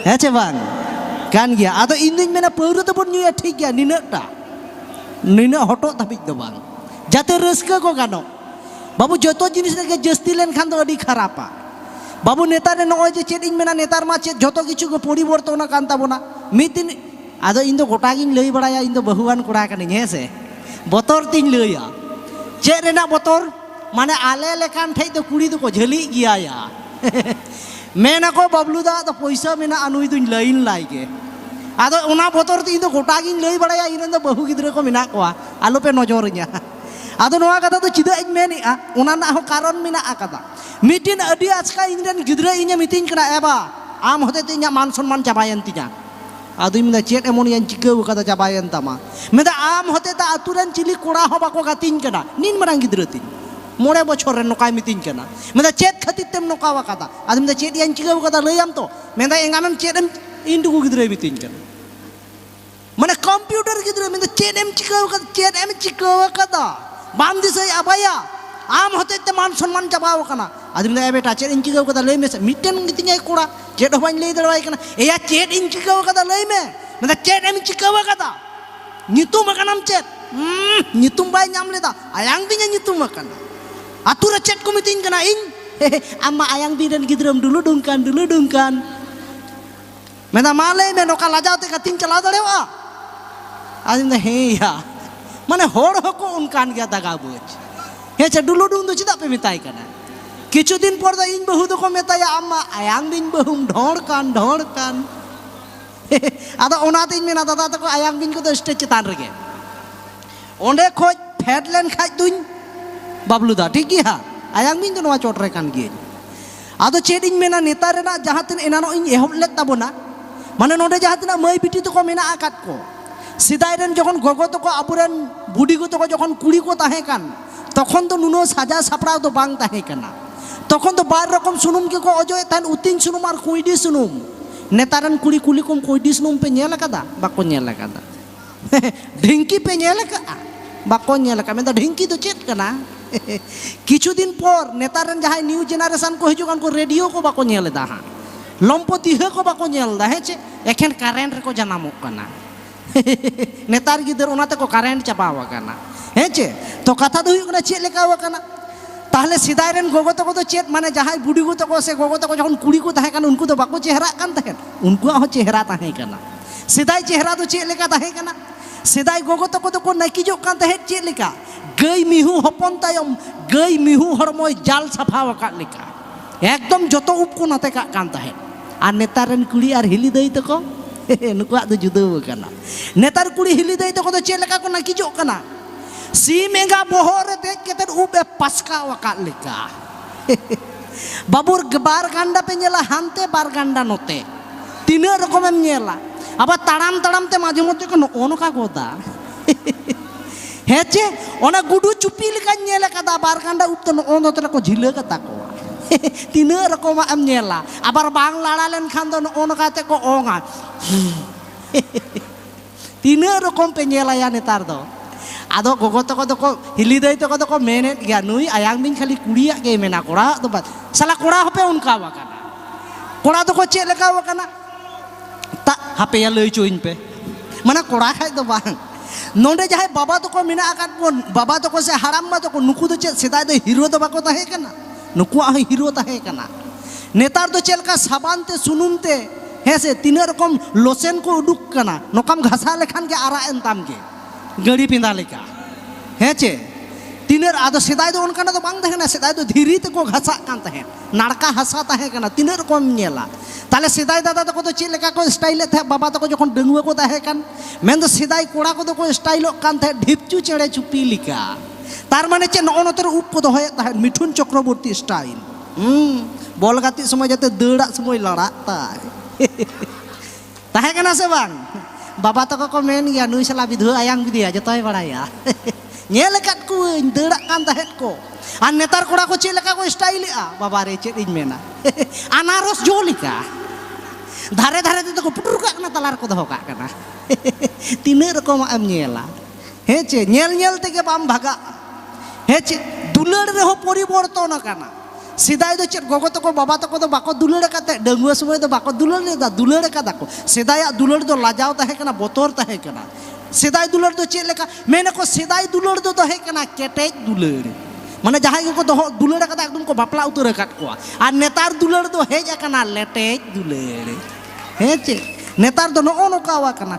ᱦᱮᱸ ᱪᱮ ᱵᱟᱝ ᱠᱟᱱ ᱜᱮᱭᱟ ᱟᱫᱚ ᱤᱧ ᱫᱩᱧ ᱢᱮᱱᱟ ᱯᱟᱹᱣᱨᱟᱹ ᱫᱚᱵᱚᱱ ᱧᱩᱭᱟ ᱴᱷᱤᱠ ᱜᱮᱭᱟ ᱱᱤᱱᱟᱹᱜᱴᱟ ᱱᱤᱱᱟᱹᱜ ᱦᱚᱴᱚᱜ ᱫᱷᱟᱹᱵᱤᱡ ᱫᱚ ᱵᱟᱝ ᱡᱟᱛᱮ ᱨᱟᱹᱥᱠᱟᱹ ᱠᱚ ᱜᱟᱱᱚᱜ ᱵᱟᱹᱵᱩ ᱡᱚᱛᱚ ᱡᱤᱱᱤᱥ ᱨᱮᱜᱮ ᱡᱟᱹᱥᱛᱤ ᱞᱮᱱᱠᱷᱟᱱ ᱫᱚ ᱟᱹᱰᱤ ᱠᱷᱟᱨᱟᱯᱟ ᱵᱟᱹᱵᱩ ᱱᱮᱛᱟᱨ ᱱᱚᱜᱼᱚᱭ ᱡᱮ ᱪᱮᱫ ᱤᱧ ᱢᱮᱱᱟ ᱱᱮᱛᱟᱨ ᱢᱟ ᱪᱮᱫ ᱡᱚᱛᱚ ᱠᱤᱪᱷᱩ ᱜᱮ ᱯᱚᱨᱤᱵᱚᱨᱛᱚᱱ ᱟᱠᱟᱱ ᱛᱟᱵᱚᱱᱟ ᱢᱤᱫ ᱫᱤᱱ ᱟᱫᱚ ᱤᱧ ᱫᱚ ᱜᱚᱴᱟ ᱜᱤᱧ ᱞᱟᱹᱭ ᱵᱟᱲᱟᱭᱟ ᱤᱧ ᱫᱚ ᱵᱟᱹᱦᱩᱣᱟᱱ ᱠᱚᱲᱟ ᱠᱟᱹᱱᱟᱹᱧ ᱦᱮᱸ ᱥᱮ ᱵᱚᱛᱚᱨ ᱛᱤᱧ ᱞᱟᱹᱭᱟ ᱪᱮᱫ ᱨᱮᱱᱟᱜ ᱵᱚᱛᱚᱨ ᱢᱟᱱᱮ ᱟᱞᱮ ᱞᱮᱠᱟᱱ ᱴᱷᱮᱡ ᱫᱚ ᱠᱩᱲᱤ ᱫᱚᱠᱚ ᱡᱷᱟᱹᱞᱤᱜ ᱜᱮᱭᱟ ᱭᱟ ᱢᱮᱱᱟᱠᱚ ᱵᱟᱵᱞᱩ ᱫᱟ ᱫᱚ ᱯᱚᱭᱥᱟ ᱢᱮᱱᱟᱜᱼᱟ ᱱᱩᱭ ᱫᱚᱧ ᱞᱟᱹᱭᱤᱱ ᱞᱟᱭ ᱜᱮ ᱟᱫᱚ ᱚᱱᱟ ᱵᱚᱛᱚᱨ ᱛᱮ ᱤᱧ ᱫᱚ ᱜᱚᱴᱟ ᱜᱤᱧ ᱞᱟᱹᱭ ᱵᱟᱲᱟᱭᱟ ᱤᱧ ᱨᱮᱱ ᱫᱚ ᱵᱟᱹᱦᱩ ᱜᱤᱫᱽᱨᱟᱹ ᱠᱚ ᱢᱮᱱᱟᱜ ᱠᱚᱣᱟ ᱟᱞᱚᱯᱮ ᱱᱚᱡᱚᱨᱤᱧᱟ ᱟᱫᱚ ᱱᱚᱣᱟ ᱠᱟᱛᱷᱟ ᱫᱚ ᱪᱮᱫᱟᱜ ᱤᱧ ᱢᱮᱱᱮᱜᱼᱟ ᱚᱱᱟ ᱨᱮᱱᱟᱜ ᱦᱚᱸ ᱠᱟᱨᱚᱱ ᱢᱮᱱᱟᱜ ᱟᱠᱟᱫᱟ ᱢᱤᱫᱴᱤᱱ ᱟᱹᱰᱤ ᱟᱪᱠᱟ ᱤᱧ ᱨᱮᱱ ᱜᱤᱫᱽᱨᱟᱹ ᱤᱧᱮ ᱢᱤᱛᱟᱹᱧ ᱠᱟᱱᱟ ᱮᱵᱟ ᱟᱢ ᱦᱚᱛᱮᱡ ᱛᱮ ᱤᱧᱟᱹᱜ ᱢᱟᱱ ᱥᱚᱱᱢᱟᱱ ᱪᱟᱵᱟᱭᱮᱱ ᱛᱤᱧᱟ ᱟᱫᱚᱧ ᱢᱮᱱᱫᱟ ᱪᱮᱫ ᱮᱢᱚᱱᱤᱭᱟᱹᱧ ᱪᱤᱠᱟᱹᱣ ᱠᱟᱫᱟ ᱪᱟᱵᱟᱭᱮᱱ ᱛᱟᱢᱟ ᱢᱮᱱᱫᱟ ᱟᱢ ᱦᱚᱛᱮ ᱛᱮ ᱟᱛᱳ ᱨᱮᱱ ᱪᱤᱞᱤ ᱠᱚᱲᱟ ᱦᱚᱸ ᱵᱟᱠᱚ ᱜᱟᱛᱮᱧ ᱠᱟᱱᱟ ᱱᱤᱱ ᱢᱟᱨᱟᱝ ᱜᱤᱫᱽᱨᱟᱹ ᱛᱤᱧ ᱢᱚᱬᱮ ᱵᱚᱪᱷᱚᱨ ᱨᱮ ᱱᱚᱝᱠᱟᱭ ᱢᱤᱛᱟᱹᱧ ᱠᱟᱱᱟ ᱢᱮᱱᱫᱟ ᱪᱮᱫ ᱠᱷᱟᱹᱛᱤᱨ ᱛᱮᱢ ᱱᱚᱝᱠᱟ ᱟᱠᱟᱫᱟ ᱟᱫᱚ ᱢᱮᱱᱫᱟ ᱪᱮᱫ ᱭᱟᱧ ᱪᱤᱠᱟᱹᱣ ᱠᱟᱫᱟ ᱞᱟᱹᱭᱟᱢ ᱛᱚ ᱢᱮᱱᱫᱟ ᱮᱸᱜᱟᱱᱮᱢ ᱪᱮᱫ ᱮᱢ ᱤᱧ ᱴᱩᱠᱩ ᱜᱤᱫᱽᱨᱟᱹᱭ ᱢᱤᱛᱟᱹᱧ ᱠᱟᱱᱟ ᱢᱟᱱᱮ ᱠᱚᱢᱯᱤᱭᱩᱴᱟᱨ ᱜᱤᱫᱽᱨᱟᱹ ᱢᱮᱱᱫᱟ ᱪᱮᱫ ᱮᱢ ᱪᱤᱠᱟᱹᱣ ᱠᱟᱫᱟ ᱪᱮᱫ ᱮᱢ ᱪᱤᱠᱟᱹᱣ ᱠᱟᱫᱟ ᱵᱟᱢ ᱫᱤᱥᱟᱹᱭ ᱟᱵᱟᱭᱟ ᱟᱢ ᱦᱚᱛᱮᱡ ᱛᱮ ᱢᱟᱱ ᱥᱚᱱᱢᱟᱱ ᱪᱟᱵᱟᱣ ᱠᱟᱱᱟ ᱟᱫᱚ ᱢᱮᱱᱫᱟ ᱮ ᱵᱮᱴᱟ ᱪᱮᱫ ᱤᱧ ᱪᱤᱠᱟᱹᱣ ᱠᱟᱫᱟ ᱞᱟᱹᱭ ᱢᱮᱥᱮ ᱢᱤᱫᱴᱮᱱ ᱜᱮᱛᱤᱧᱟᱭ ᱠᱚᱲᱟ ᱪᱮᱫ ᱦᱚᱸ ᱵᱟᱹᱧ ᱞᱟᱹᱭ ᱫᱟᱲᱮᱣᱟᱭ ᱠᱟᱱᱟ ᱮᱭᱟ ᱪᱮᱫ ᱤᱧ ᱪᱤᱠᱟᱹᱣ ᱠᱟᱫᱟ ᱞᱟᱹᱭ ᱢᱮ ᱢᱮᱱᱫᱟ ᱪᱮᱫ ᱮᱢ ᱪᱤᱠᱟᱹᱣ ᱠᱟᱫᱟ ᱧᱩᱛᱩᱢ ᱟᱠᱟᱱᱟᱢ ᱪᱮᱫ ᱧᱩᱛᱩᱢ ᱵᱟᱭ ᱧᱟᱢ ᱞᱮᱫᱟ ᱟᱭᱟᱝ ᱵᱤᱧ ᱮ ᱧᱩᱛᱩᱢ ᱟᱠᱟᱱᱟ ᱟᱛᱳ ᱨᱮ ᱪᱮᱫ ᱠᱚ ᱢᱤᱛᱟᱹᱧ ᱠᱟᱱᱟ ᱤᱧ ᱟᱢ ᱢᱟ ᱟᱭᱟᱝ ᱵᱤᱧ ᱨᱮᱱ ᱜᱤᱫᱽᱨᱟᱹᱢ ᱰᱩᱞᱩ ᱰᱩᱝ ᱠᱟᱱ ᱰᱩᱞᱩ ᱰᱩᱝ ᱠᱟᱱ ᱢᱮᱱᱫᱟ ᱢᱟ ᱞᱟᱹᱭ ᱢᱮ ᱱᱚᱝᱠᱟ ᱞᱟᱡᱟᱣ ᱛᱮ ᱜᱟᱛᱮᱧ ᱪᱟᱞᱟᱣ ᱫᱟᱲᱮᱭᱟᱜᱼᱟ ᱟᱫᱚᱧ ᱢᱮᱱᱫᱟ ᱦᱮᱸ ᱭᱟ ᱢᱟᱱᱮ ᱦᱚᱲ ᱦᱚᱸᱠᱚ ᱚᱱᱠᱟᱱ ᱜᱮᱭᱟ ᱫᱟᱜᱟ ᱵᱩᱡᱽ ᱦᱮᱸ ᱪᱮ ᱰᱩᱞᱩ ᱰᱩᱝ ᱫᱚ ᱪᱮᱫᱟᱜ ᱯᱮ ᱢᱮᱛᱟᱭ ᱠᱟᱱᱟ ᱠᱤᱪᱷᱩ ᱫᱤᱱ ᱯᱚᱨ ᱫᱚ ᱤᱧ ᱵᱟᱹᱦᱩ ᱫᱚᱠᱚ ᱢᱮᱛᱟᱭᱟ ᱟᱢ ᱢᱟ ᱟᱭᱟᱝ ᱵᱤᱧ ᱵᱟᱹᱦᱩᱢ ᱰᱷᱚᱲ ᱠᱟᱱ ᱰᱷᱚᱲ ᱠᱟᱱ ᱟᱫᱚ ᱚᱱᱟᱛᱤᱧ ᱢᱮᱱᱟ ᱫᱟᱫᱟ ᱛᱟᱠᱚ ᱟᱭᱟᱝ ᱵᱤᱧ ᱠᱚᱫᱚ ᱥᱴᱮᱡᱽ ᱪᱮᱛᱟᱱ ᱨᱮᱜᱮ ᱚᱸᱰᱮ ᱠᱷᱚᱡ ᱯᱷᱮᱰ ᱞᱮᱱ ᱠᱷᱟᱡ ᱫᱩᱧ ᱵᱟᱵᱞᱩᱫᱟ ᱴᱷᱤᱠ ᱜᱮᱭᱟ ᱟᱭᱟᱝ ᱵᱤᱧ ᱫᱚ ᱱᱚᱣᱟ ᱪᱚᱴ ᱨᱮ ᱠᱟᱱ ᱜᱤᱭᱟᱹᱧ ᱟᱫᱚ ᱪᱮᱫ ᱤᱧ ᱢᱮᱱᱟ ᱱᱮᱛᱟᱨ ᱨᱮᱱᱟᱜ ᱡᱟᱦᱟᱸ ᱛᱤᱱᱟᱹᱜ ᱮᱱᱟᱱᱚᱜ ᱤᱧ ᱮᱦᱚᱵ ᱞᱮᱫ ᱛᱟᱵᱚᱱᱟ ᱢᱟᱱᱮ ᱱᱚᱰᱮ ᱡᱟᱦᱟᱸ ᱛᱤᱱᱟᱹᱜ ᱢᱟᱹᱭ ᱵᱤᱴᱤ ᱛᱟᱠᱚ ᱢᱮᱱᱟᱜ ᱟᱠᱟᱫ ᱠᱚ ᱥᱮᱫᱟᱭ ᱨᱮᱱ ᱡᱚᱠᱷᱚᱱ ᱜᱚᱜᱚ ᱛᱟᱠᱚ ᱟᱵᱚᱨᱮᱱ ᱵᱩᱰᱤᱜᱚ ᱛᱟᱠᱚ ᱡᱚᱠᱷᱚᱱ ᱠᱩᱲᱤ ᱠᱚ ᱛᱟᱦᱮᱸ ᱠᱟᱱ ᱛᱚᱠᱷᱚᱱ ᱫᱚ ᱱᱩᱱᱟᱹᱜ ᱥᱟᱡᱟᱣ ᱥᱟᱯᱲᱟᱣ ᱫᱚ ᱵᱟᱝ ᱛᱟᱦᱮᱸ ᱠᱟᱱᱟ ᱛᱚᱠᱷᱚᱱ ᱫᱚ ᱵᱟᱨ ᱨᱚᱠᱚᱢ ᱥᱩᱱᱩᱢ ᱜᱮᱠᱚ ᱚᱡᱚᱜᱮᱫ ᱛᱟᱦᱮᱸᱫ ᱩᱛᱤᱧ ᱥᱩᱱᱩᱢ ᱟᱨ ᱠᱩᱸᱭᱰᱤ ᱥᱩᱱᱩᱢ ᱱᱮᱛᱟᱨ ᱨᱮᱱ ᱠᱩᱲᱤ ᱠᱩᱞᱤ ᱠᱚᱢ ᱠᱩᱸᱭᱰᱤ ᱥᱩᱱᱩᱢ ᱯᱮ ᱧᱮᱞ ᱟᱠᱟᱫᱟ ᱵᱟᱠᱚ ᱧᱮᱞ ᱟᱠᱟᱫᱟ ᱰᱷᱤᱝᱠᱤ ᱯᱮ ᱧᱮᱞ ᱟᱠᱟᱫᱼᱟ ᱵᱟᱠᱚ ᱧᱮᱞ ᱟᱠᱟᱫ ᱢᱮᱱᱫᱟ ᱰᱷᱤᱝᱠᱤ ᱫᱚ ᱪᱮᱫ ᱠᱟᱱᱟ ᱠᱤᱪᱷᱩ ᱫᱤᱱ ᱯᱚᱨ ᱱᱮᱛᱟᱨ ᱨᱮᱱ ᱡᱟᱦᱟᱸᱭ ᱱᱤᱭᱩ ᱡᱮᱱᱟᱨᱮᱥᱚᱱ ᱠᱚ ᱦᱤᱡᱩᱜ ᱠᱟᱱ ᱠᱚ ᱨᱮᱰᱤᱭᱳ ᱠᱚ ᱵᱟᱠᱚ ᱧᱮᱞ ᱮᱫᱟ ᱦᱟᱸᱜ ᱞᱚᱢᱯᱚ ᱛᱤᱦᱟᱹ ᱠᱚ ᱵᱟᱠᱚ ᱧᱮᱞ ᱮᱫᱟ ᱦᱮᱸ ᱪᱮ ᱮᱠᱷᱮᱱ ᱠᱟᱨᱮᱱᱴ ᱨᱮᱠᱚ ᱡᱟᱱᱟᱢᱚᱜ ᱠᱟᱱᱟ ᱱᱮᱛᱟᱨ ᱜᱤᱫᱟᱹᱨ ᱚᱱᱟ ᱛᱮᱠᱚ ᱠᱟᱨᱮᱱᱴ ᱪᱟᱵᱟᱣ ᱟᱠᱟᱱᱟ ᱦᱮᱸ ᱪᱮ ᱛᱚ ᱠᱟᱛᱷᱟ ᱫᱚ ᱦᱩᱭᱩᱜ ᱠᱟᱱᱟ ᱪᱮᱫ ᱞᱮᱠᱟ ᱟᱠᱟᱱᱟ ᱛᱟᱦᱞᱮ ᱥᱮᱫᱟᱭ ᱨᱮᱱ ᱜᱚᱜᱚ ᱛᱟᱠᱚ ᱫᱚ ᱪᱮᱫ ᱢᱟᱱᱮ ᱡᱟᱦᱟᱸᱭ ᱵᱩᱰᱤ ᱜᱚ ᱛᱟᱠᱚ ᱥᱮ ᱜᱚᱜᱚ ᱛᱟᱠᱚ ᱡᱚᱠᱷᱚᱱ ᱠᱩᱲᱤ ᱠᱚ ᱛᱟᱦᱮᱸ ᱠᱟᱱᱟ ᱩᱱᱠᱩ ᱫᱚ ᱵᱟᱠᱚ ᱪᱮᱦᱨᱟᱜ ᱠᱟᱱ ᱛᱟᱦᱮᱸᱫ ᱩᱱᱠᱩᱣᱟᱜ ᱦᱚᱸ ᱪᱮᱦᱨᱟ ᱛᱟᱦᱮᱸ ᱠᱟᱱᱟ ᱥᱮᱫᱟᱭ ᱪᱮᱦᱨᱟ ᱫᱚ ᱪᱮᱫ ᱞᱮᱠᱟ ᱛᱟᱦᱮᱸ ᱠᱟᱱᱟ ᱥᱮᱫᱟᱭ ᱜᱚᱜᱚ ᱛᱟᱠᱚ ᱫᱚᱠᱚ ᱱᱟᱹᱠᱤᱡᱚᱜ ᱠᱟᱱ ᱛᱟᱦᱮᱸᱫ ᱪᱮᱫ ᱞᱮᱠᱟ ᱜᱟᱹᱭ ᱢᱤᱦᱩ ᱦᱚᱯᱚᱱ ᱛᱟᱭᱚᱢ ᱜᱟᱹᱭ ᱢᱤᱦᱩ ᱦᱚᱲᱢᱚᱭ ᱡᱟᱞ ᱥᱟᱯᱷᱟ ᱟᱠᱟᱫ ᱞᱮᱠᱟ ᱮᱠᱫᱚᱢ ᱡᱚᱛᱚ ᱩᱵ ᱠᱚ ᱱᱚᱛᱮ ᱠᱟᱜ ᱠᱟᱱ ᱛᱟᱦᱮᱸᱫ ᱟᱨ ᱱᱮᱛᱟᱨ ᱨᱮᱱ ᱠᱩᱲᱤ ᱟᱨ ᱦᱤᱞᱤ ᱫᱟᱹᱭ ᱛᱟᱠᱚ ᱱᱩᱠᱩᱣᱟᱜ ᱫᱚ ᱡᱩᱫᱟᱹ ᱟᱠᱟᱱᱟ ᱱᱮᱛᱟᱨ ᱠᱩᱲᱤ ᱦᱤᱞᱤ ᱫᱟᱹᱭ ᱛᱟᱠᱚ ᱫᱚ ᱪᱮᱫ ᱞᱮᱠᱟ ᱠᱚ ᱱᱟᱹᱠᱤᱡᱚᱜ ᱠᱟᱱᱟ ᱥᱤᱢ ᱮᱸᱜᱟ ᱵᱚᱦᱚᱜ ᱨᱮ ᱫᱮᱡ ᱠᱟᱛᱮ ᱩᱵ ᱮ ᱯᱟᱥᱠᱟᱣ ᱟᱠᱟᱫ ᱞᱮᱠᱟ ᱵᱟᱵᱩᱨ ᱵᱟᱨ ᱜᱟᱱᱰᱟ ᱯᱮ ᱧᱮᱞᱟ ᱦᱟᱱᱛᱮ ᱵᱟᱨ ᱜᱟᱱᱰᱟ ᱱᱚᱛᱮ ᱛᱤᱱᱟᱹᱜ ᱨᱚᱠᱚᱢᱮᱢ ᱧᱮᱞᱟ ᱟᱵᱟᱨ ᱛᱟᱲᱟᱢ ᱛᱟᱲᱟᱢ ᱛᱮ ᱢᱟᱡᱷᱮ ᱢᱚᱫᱽᱫᱷᱮ ᱠᱚ ᱱᱚᱜᱼᱚ ᱱᱚᱝᱠᱟ ᱜᱚᱫᱟ ᱦᱮᱸ ᱪᱮ ᱚᱱᱟ ᱜᱩᱰᱩ ᱪᱩᱯᱤ ᱞᱮᱠᱟᱧ ᱧᱮᱞ ᱟᱠᱟᱫᱟ ᱵᱟᱨ ᱜᱟᱱᱰᱟ ᱩᱵ ᱛᱮ ᱱᱚᱜᱼᱚ ᱱᱚᱛᱮ ᱨᱮᱠᱚ ᱡᱷᱤᱞᱟᱹ ᱠᱟᱛᱟ ᱠᱚᱣᱟ ᱛᱤᱱᱟᱹᱜ ᱨᱚᱠᱚᱢᱟᱜ ᱮᱢ ᱧᱮᱞᱟ ᱟᱵᱟᱨ ᱵᱟᱝ ᱞᱟᱲᱟ ᱞᱮᱱᱠᱷᱟᱱ ᱫᱚ ᱱᱚᱜᱼᱚ ᱱᱚᱝᱠᱟ ᱠᱟᱛᱮ ᱠᱚ ᱚᱝᱟ ᱛᱤᱱᱟᱹᱜ ᱨᱚᱠᱚᱢ ᱯᱮ ᱧᱮᱞᱟᱭᱟ ᱱᱮᱛᱟᱨ ᱫᱚ ᱟᱫᱚ ᱜᱚᱜᱚ ᱛᱟᱠᱚ ᱫᱚᱠᱚ ᱦᱤᱞᱤ ᱫᱟᱹᱭ ᱛᱟᱠᱚ ᱫᱚᱠᱚ ᱢᱮᱱᱮᱫ ᱜᱮᱭᱟ ᱱᱩᱭ ᱟᱭᱟᱝ ᱵᱤᱧ ᱠᱷᱟᱹᱞᱤ ᱠᱩᱲᱤᱭᱟᱜ ᱜᱮᱭ ᱢᱮᱱᱟ ᱠᱚᱲᱟᱣᱟᱜ ᱫᱚ ᱵᱟᱝ ᱥᱟᱞᱟ ᱠᱚᱲᱟ ᱦᱚᱸᱯᱮ ᱚᱱᱠᱟᱣ ᱟᱠᱟᱱᱟ ᱠᱚᱲᱟ ᱫᱚᱠᱚ ᱪᱮᱫ ᱞᱮᱠᱟᱣ ᱟᱠᱟᱱᱟ ᱛᱟ ᱦᱟᱯᱮᱭᱟ ᱞᱟᱹᱭ ᱪᱩᱧ ᱯᱮ ᱢᱟᱱᱮ ᱠᱚᱲᱟ ᱠᱷᱟᱡ ᱫᱚ ᱵᱟᱝ ᱱᱚᱰᱮ ᱡᱟᱦᱟᱸᱭ ᱵᱟᱵᱟ ᱛᱟᱠᱚ ᱢᱮᱱᱟᱜ ᱟᱠᱟᱫ ᱵᱚᱱ ᱵᱟᱵᱟ ᱛᱟᱠᱚ ᱥᱮ ᱦᱟᱲᱟᱢ ᱵᱟ ᱛᱟᱠᱚ ᱱᱩᱠᱩ ᱫᱚ ᱪᱮᱫ ᱥᱮᱫᱟᱭ ᱫᱚ ᱦᱤᱨᱳ ᱫᱚ ᱵᱟᱠᱚ ᱛᱟᱦᱮᱸ ᱠᱟᱱᱟ ᱱᱩᱠᱩᱣᱟᱜ ᱦᱚᱸ ᱦᱤᱨᱳ ᱛᱟᱦᱮᱸ ᱠᱟᱱᱟ ᱱᱮᱛᱟᱨ ᱫᱚ ᱪᱮᱫ ᱞᱮᱠᱟ ᱥᱟᱵᱟᱱ ᱛᱮ ᱥᱩᱱᱩᱢ ᱛᱮ ᱦᱮᱸ ᱥᱮ ᱛᱤᱱᱟᱹᱜ ᱨᱚᱠᱚᱢ ᱞᱚᱥᱮᱱ ᱠᱚ ᱩᱰᱩᱠ ᱠᱟᱱᱟ ᱱᱚᱝᱠᱟᱢ ᱜᱷᱟᱥᱟᱣ ᱞᱮᱠᱷᱟᱱ ᱜᱮ ᱟᱨᱟᱜ ᱮᱱ ᱛᱟᱢ ᱜᱮ ᱜᱟᱹᱲᱤ ᱯᱮᱸᱫᱟ ᱞᱮᱠᱟ ᱦᱮᱸ ᱪᱮ ᱛᱤᱱᱟᱹᱜ ᱟᱫᱚ ᱥᱮᱫᱟᱭ ᱫᱚ ᱚᱱᱠᱟᱱᱟᱜ ᱫᱚ ᱵᱟᱝ ᱛᱟᱦᱮᱸ ᱠᱟᱱᱟ ᱥᱮᱫᱟᱭ ᱫᱚ ᱫᱷᱤᱨᱤ ᱛᱮᱠᱚ ᱜᱷᱟᱥᱟᱜ ᱠᱟᱱ ᱛᱟᱦᱮᱸᱫ ᱱᱟᱲᱠᱟ ᱦᱟᱥᱟ ᱛᱟᱦᱮᱸ ᱠᱟᱱᱟ ᱛᱤᱱᱟᱹᱜ ᱨᱚᱠᱚᱢ ᱧᱮᱞᱟ ᱛᱟᱦᱞᱮ ᱥᱮᱫᱟᱭ ᱫᱟᱫᱟ ᱛᱟᱠᱚ ᱫᱚ ᱪᱮᱫ ᱞᱮᱠᱟ ᱠᱚ ᱥᱴᱟᱭᱤᱞᱮᱫ ᱛᱟᱦᱮᱸᱫ ᱵᱟᱵᱟ ᱛᱟᱠᱚ ᱡᱚᱠᱷᱚᱱ ᱰᱟᱺᱜᱩᱣᱟᱹ ᱠᱚ ᱛᱟᱦᱮᱸ ᱠᱟᱱ ᱢᱮᱱᱫᱚ ᱥᱮᱫᱟᱭ ᱠᱚᱲᱟ ᱠᱚᱫᱚ ᱠᱚ ᱥᱴᱟᱭᱤᱞᱚᱜ ᱠᱟᱱ ᱛᱟᱦᱮᱸᱫ ᱰᱷᱤᱯᱪᱩ ᱪᱮᱬᱮ ᱪᱩᱯᱤ ᱞᱮᱠᱟ ᱛᱟᱨ ᱢᱟᱱᱮ ᱪᱮᱫ ᱱᱚᱜᱼᱚ ᱱᱚᱛᱮ ᱨᱮ ᱩᱵ ᱠᱚ ᱫᱚᱦᱚᱭᱮᱫ ᱛᱟᱦᱮᱸᱫ ᱢᱤᱴᱷᱩᱱ ᱪᱚᱠᱨᱚᱵᱚᱨᱛᱤ ᱥᱴᱟᱭᱤᱞ ᱵᱚᱞ ᱜᱟᱛᱮᱜ ᱥᱚᱢᱚᱭ ᱡᱟᱛᱮ ᱫᱟᱹᱲᱟᱜ ᱥᱚᱢᱚᱭ ᱞᱟᱲᱟᱜ ᱛᱟᱭ ᱛᱟᱦᱮᱸ ᱠᱟᱱᱟ ᱥᱮ ᱵᱟᱝ ᱵᱟᱵᱟ ᱛᱟᱠᱚ ᱠᱚ ᱢᱮᱱ ᱜᱮᱭᱟ ᱱᱩᱭ ᱥᱟᱞᱟ ᱵᱤᱫᱷᱩᱣᱟᱹ ᱟᱭᱟᱝ ᱵᱤᱫᱤᱭᱟ ᱡᱚᱛᱚᱭ ᱵᱟᱲᱟᱭᱟ ᱧᱮᱞ ᱟᱠᱟᱫ ᱠᱚᱣᱟᱹᱧ ᱫᱟᱹᱲᱟᱜ ᱠᱟᱱ ᱛᱟᱦᱮᱸᱫ ᱠᱚ ᱟᱨ ᱱᱮᱛᱟᱨ ᱠᱚᱲᱟ ᱠᱚ ᱪᱮᱫ ᱞᱮᱠᱟ ᱠᱚ ᱥᱴᱟᱭᱤᱞᱮᱜᱼᱟ ᱵᱟᱵᱟ ᱨᱮ ᱪᱮᱫ ᱤᱧ ᱢᱮᱱᱟ ᱟᱱᱟᱨᱚᱥ ᱡᱚ ᱞᱮᱠᱟ ᱫᱷᱟᱨᱮ ᱫᱷᱟᱨᱮ ᱛᱮᱫᱚ ᱠᱚ ᱯᱩᱴᱩᱨ ᱠᱟᱜ ᱠᱟᱱᱟ ᱛᱟᱞᱟ ᱨᱮᱠᱚ ᱫᱚᱦᱚ ᱠᱟᱜ ᱠᱟᱱᱟ ᱛᱤᱱᱟᱹᱜ ᱨᱚᱠᱚᱢᱟᱜ ᱮᱢ ᱧᱮᱞᱟ ᱦᱮᱸ ᱪᱮ ᱧᱮᱞ ᱧᱮᱞ ᱛᱮᱜᱮ ᱵᱟᱢ ᱵᱷᱟᱜᱟᱜᱼᱟ ᱦᱮᱸ ᱪᱮ ᱫᱩᱞᱟᱹᱲ ᱨᱮᱦᱚᱸ ᱯᱚᱨᱤᱵᱚᱨᱛᱚᱱ ᱟᱠᱟᱱᱟ ᱥᱮᱫᱟᱭ ᱫᱚ ᱪᱮᱫ ᱜᱚᱜᱚ ᱛᱟᱠᱚ ᱵᱟᱵᱟ ᱛᱟᱠᱚ ᱫᱚ ᱵᱟᱠᱚ ᱫᱩᱞᱟᱹᱲ ᱟᱠᱟᱫ ᱛᱟᱦᱮᱸᱫ ᱰᱟᱺᱜᱩᱣᱟᱹ ᱥᱚᱢᱚᱭ ᱫᱚ ᱵᱟᱠᱚ ᱫᱩᱞᱟᱹᱲ ᱞᱮᱫᱟ ᱫᱩᱞᱟᱹᱲ ᱟᱠᱟᱫᱟ ᱠᱚ ᱥᱮᱫᱟᱭᱟᱜ ᱫᱩᱞᱟᱹᱲ ᱫᱚ ᱞᱟᱡᱟᱣ ᱛᱟᱦᱮᱸ ᱠᱟᱱᱟ ᱵᱚᱛᱚᱨ ᱛᱟᱦᱮᱸ ᱠᱟᱱᱟ ᱥᱮᱫᱟᱭ ᱫᱩᱞᱟᱹᱲ ᱫᱚ ᱪᱮᱫ ᱞᱮᱠᱟ ᱢᱮᱱᱟᱠᱚ ᱥᱮᱫᱟᱭ ᱫᱩᱞᱟᱹᱲ ᱫᱚ ᱛᱟᱦᱮᱸ ᱠᱟᱱᱟ ᱠᱮᱴᱮᱡ ᱫᱩᱞᱟᱹᱲ ᱢᱟᱱᱮ ᱡᱟᱦᱟᱸᱭ ᱜᱮᱠᱚ ᱫᱚᱦᱚ ᱫᱩᱞᱟᱹᱲ ᱟᱠᱟᱫᱟ ᱮᱠᱫᱚᱢ ᱠᱚ ᱵᱟᱯᱞᱟ ᱩᱛᱟᱹᱨ ᱟᱠᱟᱫ ᱠᱚᱣᱟ ᱟᱨ ᱱᱮᱛᱟᱨ ᱫᱩᱞᱟᱹᱲ ᱫᱚ ᱦᱮᱡ ᱟᱠᱟᱱᱟ ᱞᱮᱴᱮᱡ ᱫᱩᱞᱟᱹᱲ ᱦᱮᱸ ᱪᱮ ᱱᱮᱛᱟᱨ ᱫᱚ ᱱᱚᱜᱼᱚ ᱱᱚᱝᱠᱟ ᱟᱠᱟᱱᱟ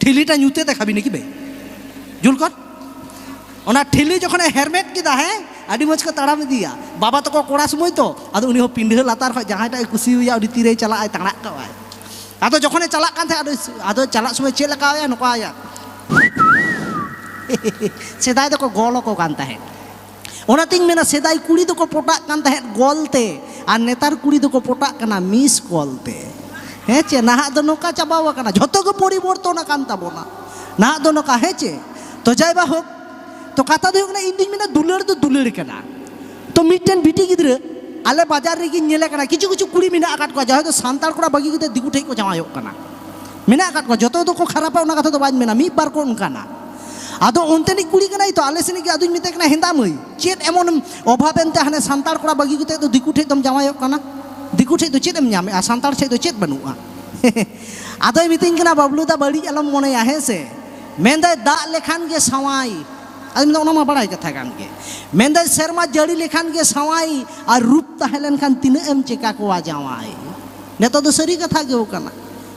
ᱴᱷᱤᱞᱤᱴᱟ ᱧᱩᱛᱮ ᱫᱮᱠᱷᱟᱵᱤᱱ ᱠᱤ ᱵᱮ ᱡᱩᱞ ᱠᱚᱨ ᱚᱱᱟ ᱴᱷᱤᱞᱤ ᱡᱚᱠᱷᱚᱱᱮ ᱦᱮᱨᱢᱮᱫ ᱠᱮᱫᱟ ᱦᱮᱸ ᱟᱹᱰᱤ ᱢᱚᱡᱽ ᱠᱚ ᱛᱟᱲᱟᱢ ᱤᱫᱤᱭᱟ ᱵᱟᱵᱟ ᱛᱟᱠᱚ ᱠᱚᱲᱟ ᱥᱚᱢᱚᱭ ᱛᱚ ᱟᱫᱚ ᱩᱱᱤ ᱦᱚᱸ ᱯᱤᱸᱰᱷᱟᱹ ᱞᱟᱛᱟᱨ ᱠᱷᱚᱱ ᱡᱟᱦᱟᱸᱭᱴᱟᱜ ᱮ ᱠᱩᱥᱤᱭᱟᱭᱟ ᱩᱱᱤ ᱛᱤᱨᱮᱭ ᱪᱟᱞᱟᱜᱼᱟᱭ ᱛᱟᱲᱟᱜ ᱠᱟᱜᱼᱟᱭ ᱟᱫᱚ ᱡᱚᱠᱷᱚᱱᱮ ᱪᱟᱞᱟᱜ ᱠᱟᱱ ᱛᱟᱦᱮᱸᱫ ᱟᱫᱚ ᱪᱟᱞᱟᱜ ᱥᱚᱢᱚᱭ ᱪᱮᱫ ᱞᱮᱠᱟᱭᱟ ᱱᱚᱝᱠᱟᱭᱟ ᱥᱮᱫᱟᱭ ᱫᱚᱠᱚ ᱜᱚᱞ ᱟᱠᱚ ᱠᱟᱱ ᱛᱟᱦᱮᱸᱫ ᱚᱱᱟᱛᱤᱧ ᱢᱮᱱᱟ ᱥᱮᱫᱟᱭ ᱠᱩᱲᱤ ᱫᱚᱠᱚ ᱯᱚᱴᱟᱜ ᱠᱟᱱ ᱛᱟᱦᱮᱸᱫ ᱜᱚᱞ ᱛᱮ ᱟᱨ ᱱᱮᱛᱟᱨ ᱠᱩᱲᱤ ᱫᱚᱠᱚ ᱯᱚᱴᱟᱜ ᱠᱟᱱᱟ ᱢᱤᱥ ᱠᱚᱞ ᱛᱮ ᱦᱮᱸ ᱪᱮ ᱱᱟᱦᱟᱜ ᱫᱚ ᱱᱚᱝᱠᱟ ᱪᱟᱵᱟᱣ ᱟᱠᱟᱱᱟ ᱡᱷᱚᱛᱚ ᱜᱮ ᱯᱚᱨᱤᱵᱚᱨᱛᱚᱱ ᱟᱠᱟᱱ ᱛᱟᱵᱚᱱᱟ ᱱᱟᱦᱟᱜ ᱫᱚ ᱱᱚᱝᱠᱟ ᱦᱮᱸ ᱪᱮ ᱛᱚ ᱡᱟᱭ ᱵᱟ ᱦᱳᱠ ᱛᱚ ᱠᱟᱛᱷᱟ ᱫᱚ ᱦᱩᱭᱩᱜ ᱠᱟᱱᱟ ᱤᱧ ᱫᱩᱧ ᱢᱮᱱᱟ ᱫᱩᱞᱟᱹᱲ ᱫᱚ ᱫᱩᱞᱟᱹᱲ ᱠᱟᱱᱟ ᱛᱚ ᱢᱤᱫᱴᱮᱱ ᱵᱤᱴᱤ ᱜᱤᱫᱽᱨᱟᱹ ᱟᱞᱮ ᱵᱟᱡᱟᱨ ᱨᱮᱜᱮᱧ ᱧᱮᱞᱮ ᱠᱟᱱᱟ ᱠᱤᱪᱷᱩ ᱠᱤᱪᱷᱩ ᱠᱩᱲᱤ ᱢᱮᱱᱟᱜ ᱟᱠᱟᱫ ᱠᱚᱣᱟ ᱡᱟᱦᱟᱸᱭ ᱫᱚ ᱥᱟᱱᱛᱟᱲ ᱠᱚᱲᱟ ᱵᱟᱹᱜᱤ ᱠᱟᱛᱮ ᱫᱤᱠᱩ ᱴᱷᱮᱱ ᱠᱚ ᱡᱟᱶᱟᱭᱚᱜ ᱠᱟᱱᱟ ᱢᱮᱱᱟᱜ ᱟᱠᱟᱫ ᱠᱚᱣᱟ ᱡᱚᱛᱚ ᱫᱚᱠᱚ ᱠᱷᱟᱨᱟᱯᱟ ᱚᱱᱟ ᱠᱟᱛᱷᱟ ᱫᱚ ᱵᱟᱹᱧ ᱢᱮᱱᱟ ᱢᱤᱫ ᱵᱟᱨ ᱠᱚ ᱚᱱᱠᱟᱱᱟ ᱟᱫᱚ ᱚᱱᱛᱮᱱᱤᱡ ᱠᱩᱲᱤ ᱠᱟᱱᱟᱭ ᱛᱚ ᱟᱞᱮ ᱥᱮᱱᱤᱡ ᱜᱮ ᱟᱫᱚᱧ ᱢᱮᱛᱟᱭ ᱠᱟᱱᱟ ᱦᱮᱸᱫᱟ ᱢᱟᱹᱭ ᱪᱮᱫ ᱮᱢᱚᱱ ᱚᱵᱷᱟᱵ ᱮᱱᱛᱮ ᱦᱟᱱᱮ ᱥᱟᱱᱛᱟᱲ ᱠᱚᱲᱟ ᱵᱟᱹᱜᱤ ᱠᱟᱛᱮ ᱫᱚ ᱫᱤᱠᱩ ᱴᱷᱮᱡ ᱫᱚᱢ ᱡᱟᱶᱟᱭᱚᱜ ᱠᱟᱱᱟ ᱫᱤᱠᱩ ᱴᱷᱮᱡ ᱫᱚ ᱪᱮᱫ ᱮᱢ ᱧᱟᱢᱮᱜᱼᱟ ᱥᱟᱱᱛᱟᱲ ᱴᱷᱮᱡ ᱫᱚ ᱪᱮᱫ ᱵᱟᱹᱱᱩᱜᱼᱟ ᱟᱫᱚᱭ ᱢᱤᱛᱟᱹᱧ ᱠᱟᱱᱟ ᱵᱟᱵᱞᱩ ᱫᱟ ᱵᱟᱹᱲᱤᱡ ᱟᱞᱚᱢ ᱢᱚᱱᱮᱭᱟ ᱦᱮᱸ ᱥᱮ ᱢᱮᱱᱫᱟᱭ ᱫᱟᱜ ᱞᱮᱠᱷᱟᱱ ᱜᱮ ᱥᱟᱶᱟᱭ ᱟᱫᱚ ᱢᱮᱱᱫᱟ ᱚᱱᱟ ᱢᱟ ᱵᱟᱲᱟᱭ ᱠᱟᱛᱷᱟ ᱠᱟᱱ ᱜᱮ ᱢᱮᱱᱫᱟᱭ ᱥᱮᱨᱢᱟ ᱡᱟᱹᱲᱤ ᱞᱮᱠᱷᱟᱱ ᱜᱮ ᱥᱟᱶᱟᱭ ᱟᱨ ᱨᱩᱯ ᱛᱟᱦᱮᱸ ᱞᱮᱱᱠᱷᱟᱱ ᱛᱤᱱᱟᱹᱜ ᱮᱢ ᱪᱮᱠᱟ ᱠᱚᱣᱟ ᱡᱟᱶᱟᱭ ᱱᱤᱛᱚᱜ ᱫᱚ ᱥᱟᱹᱨᱤ ᱠᱟᱛᱷᱟ ᱜᱮ ᱠᱟᱱᱟ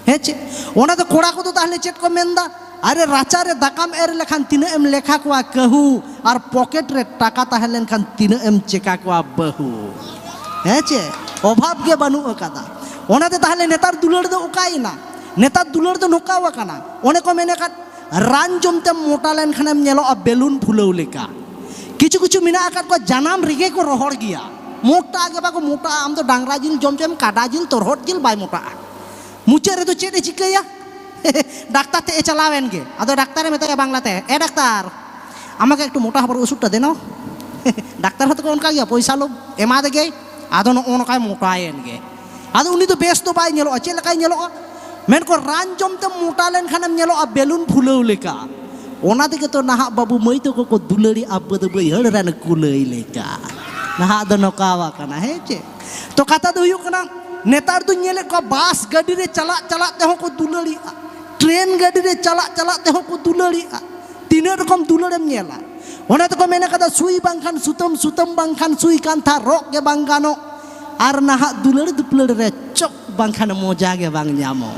ᱦᱮᱸ ᱪᱮᱫ ᱚᱱᱟ ᱫᱚ ᱠᱚᱲᱟ ᱠᱚᱫᱚ ᱛᱟᱦᱞᱮ ᱪᱮᱫ ᱠᱚ ᱢᱮᱱᱫᱟ ᱟᱨᱮ ᱨᱟᱪᱟ ᱨᱮ ᱫᱟᱠᱟᱢ ᱮᱨ ᱞᱮᱠᱷᱟᱱ ᱛᱤᱱᱟᱹᱜ ᱮᱢ ᱞᱮᱠᱷᱟ ᱠᱚᱣᱟ ᱠᱟᱹᱦᱩ ᱟᱨ ᱯᱚᱠᱮᱴ ᱨᱮ ᱴᱟᱠᱟ ᱛᱟᱦᱮᱸ ᱞᱮᱱᱠᱷᱟᱱ ᱛᱤᱱᱟᱹᱜ ᱮᱢ ᱪᱮᱠᱟ ᱠᱚᱣᱟ ᱵᱟᱹᱦᱩ ᱦᱮᱸ ᱪᱮᱫ ᱚᱵᱷᱟᱵᱽ ᱜᱮ ᱵᱟᱹᱱᱩᱜ ᱟᱠᱟᱫᱟ ᱚᱱᱟᱛᱮ ᱛᱟᱦᱞᱮ ᱱᱮᱛᱟᱨ ᱫᱩᱞᱟᱹᱲ ᱫᱚ ᱚᱠᱟᱭᱮᱱᱟ ᱱᱮᱛᱟᱨ ᱫᱩᱞᱟᱹᱲ ᱫᱚ ᱱᱚᱝᱠᱟ ᱟᱠᱟᱱᱟ ᱚᱱᱮ ᱠᱚ ᱢᱮᱱ ᱟᱠᱟᱫ ᱨᱟᱱ ᱡᱚᱢ ᱛᱮᱢ ᱢᱚᱴᱟ ᱞᱮᱱ ᱠᱷᱟᱱᱮᱢ ᱧᱮᱞᱚᱜᱼᱟ ᱵᱮᱞᱩᱱ ᱯᱷᱩᱞᱟᱹᱣ ᱞᱮᱠᱟ ᱠᱤᱪᱷᱩ ᱠᱤᱪᱷᱩ ᱢᱮᱱᱟᱜ ᱟᱠᱟᱫ ᱠᱚᱣᱟ ᱡᱟᱱᱟᱢ ᱨᱮᱜᱮ ᱠᱚ ᱨᱚᱦᱚᱲ ᱜᱮᱭᱟ ᱢᱚᱴᱟ ᱜᱮ ᱵᱟᱠᱚ ᱢᱚᱴᱟᱜᱼᱟ ᱟᱢ ᱫᱚ ᱰᱟᱝᱨᱟ ᱡᱤᱞ ᱡᱚᱢ ᱪᱚᱭᱮᱢ ᱠᱟᱰᱟ ᱡᱤᱞ ᱛᱚᱨᱦᱚᱫ ᱡᱤᱞ ᱵᱟᱭ ᱢᱚᱴᱟᱜᱼᱟ ᱢᱩᱪᱟᱹᱫ ᱨᱮᱫᱚ ᱪᱮᱫ ᱮ ᱪᱤᱠᱟᱹᱭᱟ ᱰᱟᱠᱛᱟᱨ ᱴᱷᱮᱡ ᱮ ᱪᱟᱞᱟᱣ ᱮᱱ ᱜᱮ ᱟᱫᱚ ᱰᱟᱠᱛᱟᱨᱮ ᱢᱮᱛᱟᱭᱟ ᱵᱟᱝᱞᱟᱛᱮ ᱮ ᱰᱟᱠᱛᱟᱨ ᱟᱢᱟᱜᱮ ᱮᱠᱴᱩ ᱢᱚᱴᱟ ᱦᱚᱵᱚᱨ ᱚᱥᱩᱫᱷᱴᱟ ᱫᱮᱱᱚ ᱰᱟᱠᱛᱟᱨ ᱦᱚᱸᱛᱚ ᱠᱚ ᱚᱱᱠᱟ ᱜᱮᱭᱟ ᱯᱚᱭᱥᱟ ᱞᱳᱵᱷ ᱮᱢᱟᱫᱮ ᱜᱮᱭ ᱟᱫᱚ ᱱᱚᱜᱼᱚ ᱱᱚᱝᱠᱟᱭ ᱢᱚᱴᱟᱭᱮᱱ ᱜᱮ ᱟᱫᱚ ᱩᱱᱤ ᱫᱚ ᱵᱮᱥ ᱫᱚ ᱵᱟᱭ ᱧᱮᱞᱚᱜᱼᱟ ᱪᱮᱫ ᱞᱮᱠᱟᱭ ᱧᱮᱞᱚᱜᱼᱟ ᱢᱮᱱᱠᱚ ᱨᱟᱱ ᱡᱚᱢ ᱛᱮᱢ ᱢᱚᱴᱟ ᱞᱮᱱᱠᱷᱟᱱᱮᱢ ᱧᱮᱞᱚᱜᱼᱟ ᱵᱮᱞᱩᱱ ᱯᱷᱩᱞᱟᱹᱣ ᱞᱮᱠᱟ ᱚᱱᱟ ᱛᱮᱜᱮ ᱛᱚ ᱱᱟᱦᱟᱜ ᱵᱟᱹᱵᱩ ᱢᱟᱹᱭ ᱛᱟᱠᱚ ᱠᱚ ᱫᱩᱞᱟᱹᱲᱤ ᱟᱵᱚ ᱫᱚ ᱵᱟᱹᱭᱦᱟᱹᱲ ᱨᱮᱱ ᱠᱩᱞᱟᱹᱭ ᱞᱮᱠᱟ ᱱᱟᱦᱟᱜ ᱫᱚ ᱱᱚᱝᱠᱟ ᱟᱠᱟᱱᱟ ᱦᱮᱸ ᱪᱮ ᱛᱚ ᱠᱟᱛᱷᱟ ᱫᱚ ᱦᱩᱭᱩᱜ ᱠᱟᱱᱟ ᱱᱮᱛᱟᱨ ᱫᱚ ᱧᱮᱞᱮᱫ ᱠᱚᱣᱟ ᱵᱟᱥ ᱜᱟᱹᱰᱤ ᱨᱮ ᱪᱟᱞᱟᱜ ᱪᱟᱞᱟᱜ ᱛᱮᱦᱚᱸ ᱠᱚ ᱫᱩᱞᱟᱹᱲᱤᱜᱼᱟ ᱴᱨᱮᱱ ᱜᱟᱹᱰᱤ ᱨᱮ ᱪᱟᱞᱟᱜ ᱪᱟᱞᱟᱜ ᱛᱮᱦᱚᱸ ᱠᱚ ᱫᱩᱞᱟᱹᱲᱤᱜᱼᱟ ᱛᱤᱱᱟᱹᱜ ᱨᱚᱠᱚᱢ ᱫᱩᱞᱟᱹᱲᱮᱢ ᱧᱮᱞᱟ ᱚᱱᱟ ᱛᱮᱠᱚ ᱢᱮᱱ ᱠᱟᱫᱟ ᱥᱩᱭ ᱵᱟᱝᱠᱷᱟᱱ ᱥᱩᱛᱟᱹᱢ ᱥᱩᱛᱟᱹᱢ ᱵᱟᱝᱠᱷᱟᱱ ᱥᱩᱭ ᱠᱟᱱᱛᱷᱟ ᱨᱚᱜ ᱜᱮ ᱵᱟᱝ ᱜᱟᱱᱚᱜ ᱟᱨ ᱱᱟᱦᱟᱜ ᱫᱩᱞᱟᱹᱲ ᱫᱩᱯᱞᱟᱹᱲ ᱨᱮ ᱪᱚᱯ ᱵᱟᱝᱠᱷᱟᱱ ᱢᱚᱡᱟ ᱜᱮ ᱵᱟᱝ ᱧᱟᱢᱚᱜ᱾